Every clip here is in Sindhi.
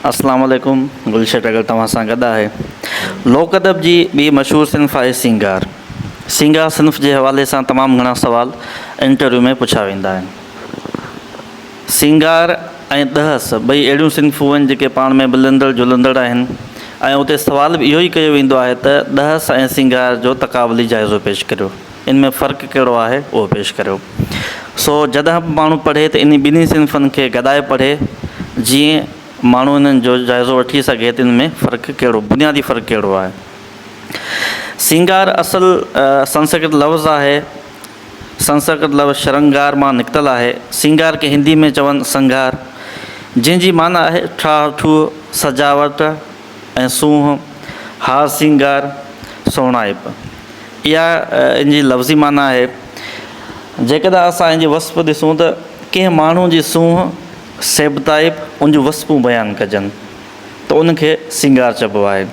اسلام عليڪم گل شيٽ اگر توهان سان گڏ آهي لوڪ ادب جي ٻي مشهور صنف آهي سينگار سينگار صنف جي حوالي سان تمام گهڻا سوال انٽرويو ۾ پڇا ويندا آهن سينگار ۽ دهس ٻئي اهڙيون صنفون آهن جيڪي پاڻ ۾ ملندڙ جلندڙ آهن ۽ اتي سوال به اهو ئي ڪيو ويندو آهي ته دهس ۽ سينگار جو تقابلي جائزو پيش ڪريو ان ۾ فرق ڪهڙو آهي اهو پيش ڪريو. سو جڏهن به ماڻهو پڙهي ته انهي ٻنهي صنفن کي گڏائي پڙهي جيئن ماڻهو انهن جو جائزو وٺي سگهي ته ان ۾ فرق ڪهڙو بنيادي فرق ڪهڙو آهي. سينگار اصل سنسڪرت لفظ آهي. سنسڪرت لفظ شرنگار مان نڪتل آهي. سينگار کي هندي ۾ چون سنگهار جنهن جي معنيٰ آهي ٺاهه ٺوهه، سجاوٽ، ۽ سونهن، هار سينگار، سهڻائپ اها ان جي لفظي معنيٰ آهي. جيڪڏهن اسان ان جي وصف ڏسون ته ڪنهن ماڻهو جي سونهن، سيبتائپ ان جون وصفون بيان ڪجن ته ان کي سينگار چئبو آهي.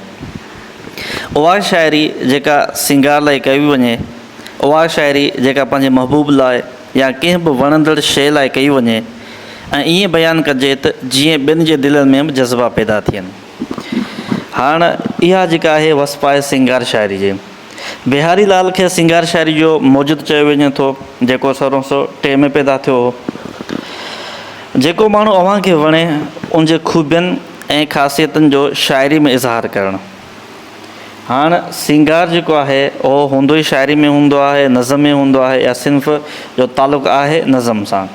اها شاعري جيڪا سينگار لاء ڪئي وڃي، اها شاعري جيڪا پنهنجي محبوب لاء يا ڪنهن به وڻندڙ شيء لاء ڪئي وڃي ۽ ائين بيان ڪجي ته جيئن ٻين جي دلين ۾ به جذبا پيدا ٿين. هاڻ اها جيڪا آهي وصف آهي سينگار شاعري جي. بهاري لال کي سينگار شاعري جو موجد چيو وڃي ٿو جيڪو سورهن سؤ ٽي ۾ پيدا ٿيو هو. جيڪو ماڻهو اوهان کي وڻي ان جي خوبين ۽ خاصيتن جو شاعري ۾ اظهار ڪرڻ. هاڻ سينگار جيڪو آهي اهو هوندو ئي شاعري ۾ هوندو آهي، نظم ۾ هوندو آهي يا صنف جو تعلق آهي نظم سان.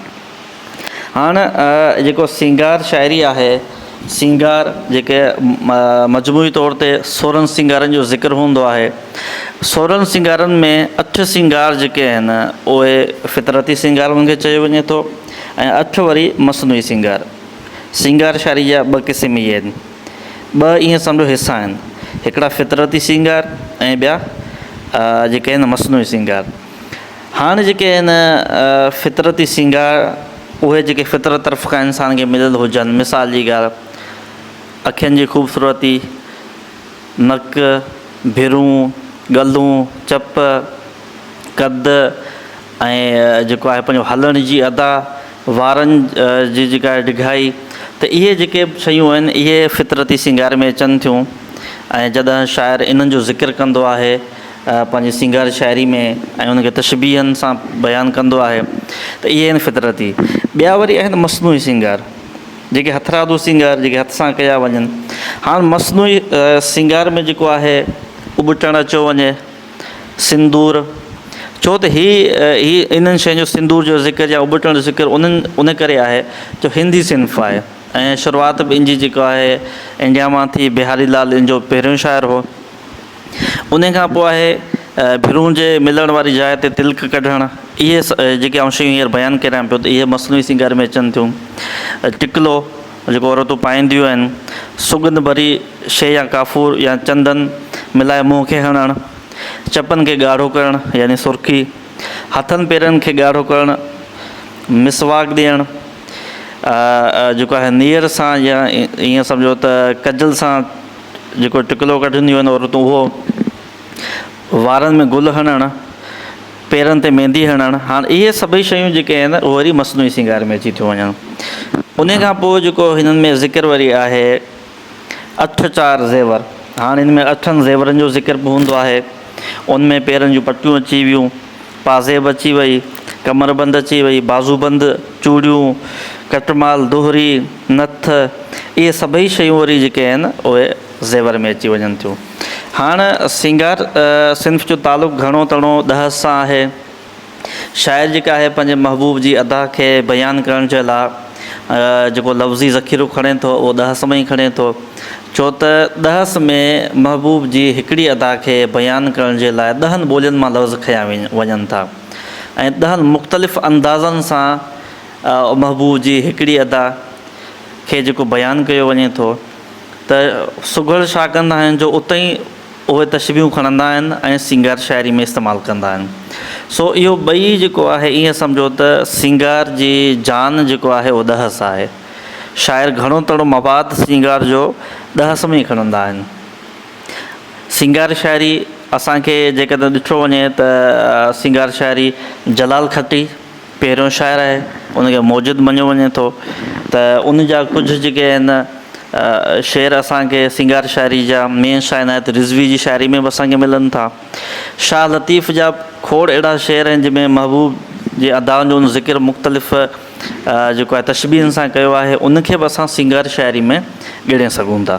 هاڻ جيڪو سينگار شاعري آهي، سينگار جيڪي مجموعي طور تي سورهن سينگارن جو ذڪر هوندو آهي. سورهن سينگارن ۾ اٺ سينگار جيڪي آهن اهي فطرتي سينگار انهن کي چيو وڃي ٿو ۽ اٺ وري مصنوعي سينگار. سينگار شاعريء جا ٻه قسم اهي آهن. ٻه ائين سمجهو حصا آهن. هڪڙا فطرتي سينگار ۽ ٻيا جيڪي آهن مصنوعي سينگار. هاڻ جيڪي آهن فطرتي سينگار اهي جيڪي فطرت طرف کان انسان کي مليل هجن مثال جي ڳالهه اکين جي خوبصورتي، نڪ، ڀرون، ڳلون، چپ، قد، ۽ جيڪو آهي پنهنجو هلڻ جي ادا، وارن جي جيڪا آهي ڊگهائي ته اهي جيڪي به شيون آهن اهي فطرتي سينگار ۾ اچن ٿيون ۽ جڏهن شاعر انهن جو ذڪر ڪندو آهي پنهنجي سينگار شاعري ۾ ۽ ان کي تشبيهن سان بيان ڪندو آهي ته اهي آهن فطرتي. ٻيا وري آهن مصنوعي سينگار جيڪي هٿرادو سينگار جيڪي هٿ سان ڪيا وڃن. هاڻ مصنوعي سينگار ۾ جيڪو آهي ابٽڻ اچيو وڃي. سندور، ڇو ته هي هي انهن شين جو سندور جو ذڪر يا ابٽڻ جو ذڪر انهن ان ڪري آهي جو هندي صنف آهي ۽ شروعات به ان جي جيڪو آهي انڊيا مان ٿي بهاري لال ان جو پهريون شاعر هو ان کان پوء آهي ڀرون جي ملڻ واري جاء تي تلڪ ڪڍڻ اهي جيڪي آئون شيون هينئر بيان ڪريان پيو ته اهي مصنوعي سينگار ۾ اچن ٿيون ٽڪلو جيڪو عورتون پائينديون آهن، سڳنڌ ڀري شيء يا ڪافور يا چندن ملائي منهن کي هڻڻ، چپن کي ڳاڙهو ڪرڻ يعني سرخي، هٿن پيرن کي ڳاڙهو ڪرڻ، مسواڪ ڏيڻ، جيڪو آهي نيئر سان يا ائين سمجهو ته ڪجل سان جيڪو ٽڪلو ڪڍنديون آهن عورتون اهو، وارن ۾ گل هڻڻ، پيرن تي ميندي هڻڻ، هاڻ اهي سڀئي شيون جيڪي آهن اهي وري مصنوعي سينگار ۾ اچي ٿيون وڃن. انهي کان پوء جيڪو هنن ۾ ذڪر وري آهي اٺ چار زيور، هاڻ هن ۾ اٺن زيورن جو ذڪر به هوندو آهي. ان ۾ پيرن جون پٽيون اچي ويون، پازيب اچي وئي، ڪمربند اچي وئي، بازوبند، چوڙيون، ڪٽمال، دهري، نٿ، اهي سڀئي شيون وري جيڪي آهن اهي. زيور ۾ اچي وڃن ٿيون. هاڻ سينگار صنف جو تعلق گهڻو تڻو ڏهس سان آهي. شاعر جيڪا آهي پنهنجي محبوب جي ادا کي بيان ڪرڻ جي لا جيڪو لفظي ذخيرو کڻي ٿو اهو ڏهس مان ئي کڻي ٿو. ڇو ته ڏهس ۾ محبوب جي هڪڙي ادا کي بيان ڪرڻ جي لاء ڏهن ٻولين مان لفظ کنيا وڃن ٿا ۽ ڏهن مختلف اندازن سان محبوب جي هڪڙي ادا کي جيڪو بيان ڪيو وڃي ٿو. ته سگهڙ ڇا ڪندا آهن جو اتي ئي اهي تشبيهون کڻندا آهن ۽ سينگار شاعري ۾ استعمال ڪندا آهن. سو اهو ٻئي جيڪو آهي ائين سمجهو ته سينگار جي جان جيڪو آهي اهو ڏهس آهي. شاعر گهڻو تڙو مواد سينگار جو ڏهس ۾ ئي کڻندا آهن. سينگار شاعري اسان کي جيڪڏهن ڏٺو وڃي ته سينگار شاعري جلال کٽي، پهريون شاعر آهي ان کي موجد مڃيو وڃي ٿو ته ان جا ڪجهه جيڪي آهن شعر اسانکي سينگار شاعري جا مين شاهه عنايت رضوي جي شاعري ۾ به اسانکي ملن ٿا شاهه لطيف جا کوڙ اهڙا شعر آهن جنهن ۾ محبوب جي ادائن جو ذڪر مختلف جيڪو آهي تشبيهن سان ڪيو آهي ان کي به اسان سينگار شاعري ۾ ڳڻي سگهون ٿا